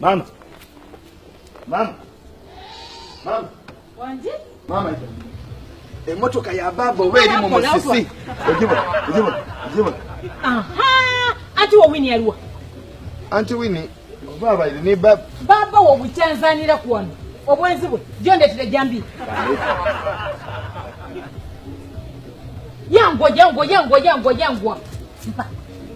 Mama. Mama. Mama. Wanji? Mama ita. Emotoka ya baba oba eri mu musisi. Ogibo, ogibo, ogibo. Aha! Anti wo wini yaliwa. Anti wini baba iri ni baba. Baba wo buchanzanira kwano. Obwenzi bwe. Jonde tire jambi. Yangwa, yangwa, yangwa, yangwa, yangwa. Mpa.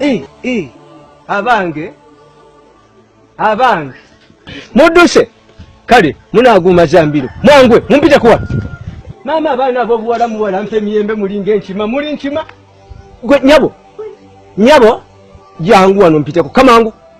Eh, eh. abange abange mudduse kale munaguuma zambiro mwangwe mumpite kuwa maama abaana abobuwala muwala mpa emiyembe mulinga enkima muli nkima gwe nyabo nyabo jangu wano mpiteko kamangu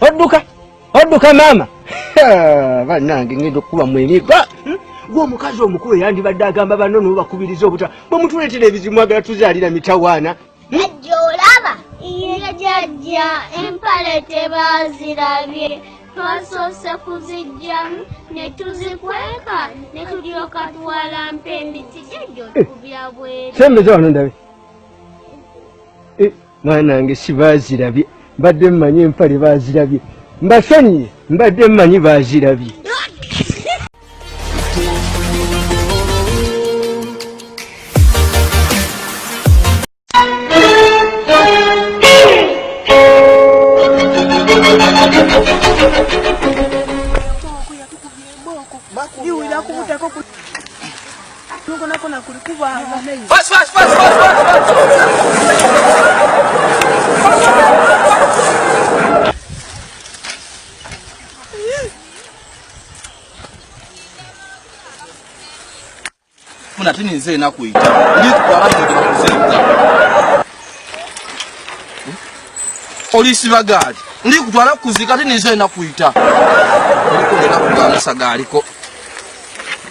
odduka odduka maama banange ngenda okukuba mwemiga hmm? gwomukazi omukulu eyandibadde agamba banno nobakubiriza obuta bwemutuleetera ebizimu agala tuzaalira mitawaana najja olaba iye jajja empale tebazirabye twasoose kuzijjamu ne tuzikweka ne tulyoka tuwalampa emiti jajja eh. okubya bwere sembeza wano ndabe eh. mwana wange sibazirabye mbadde mmanyi empale bazirabye mbasonyiye mbadde mmanyi bazirabye muna tini nze enaku ita olisiba gaali ndi kutwala kuzika tini nze enaku ita olikolela kugamusa gaaliko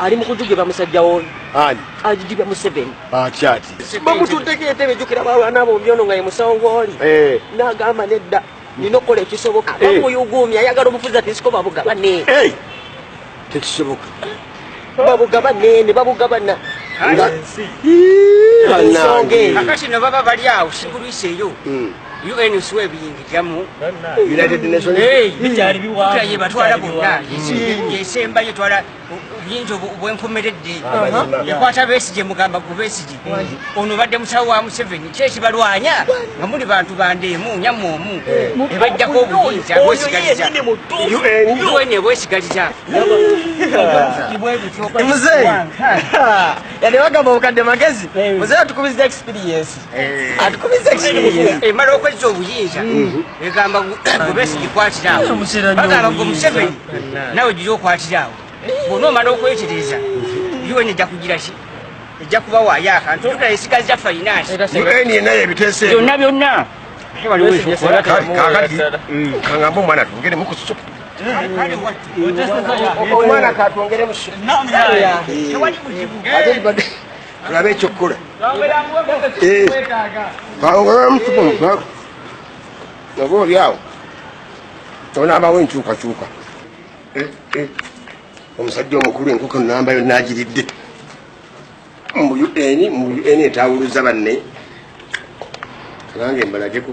ali mukujugibwa musajja woyo ani ajugibwa museveni akyati bamutuddeko entebe ejukira balwana bombi ono nga ye musawo gwoli eh. nagamba nedda nina okukola ekisoboka bamuyugumya eh. ayagala obufuzi ati nsiko babugabane eh. tekisoboka babugabane ne babugabana ensonga eyo kakati no baba bali awo sigulwiseeyo hmm. UN usiwa ebiyingirira mu United Nations bikyali biwanvu ye batwala bonna yesemba ye twala obuyinza obwenkomeredde ekwata besigye mugamba ku besigye ono badde musawo wa museveni ki ekibalwanya nga muli bantu bandeemu nyama omu ebajjako obuyinza bwesigaliza un ebwesigaliza muzeeyi yali bagamba obukadde magezi muzeeyi atukubiza experience Eh. atukubiza ekibiina emala eh, okwezza obuyinza mm. egamba gubesi gikwatiraawo eh, bagamba gwe museveni nawe giri okwatiraawo bona omala okwetereza un ejja kugira ki ejja kubawaayo akantu olukula esigaza fainansi byonna byonna kakati mm. kangamba omwana tugere mukusuku omwana katwongere musuku tulabe ekyokukola oba oli awo onaabawo enkyukakyuka eh, eh. omusajja omukulu enkoko namba yonna agiridde mu un mu un etawuluza banne abange mbalageko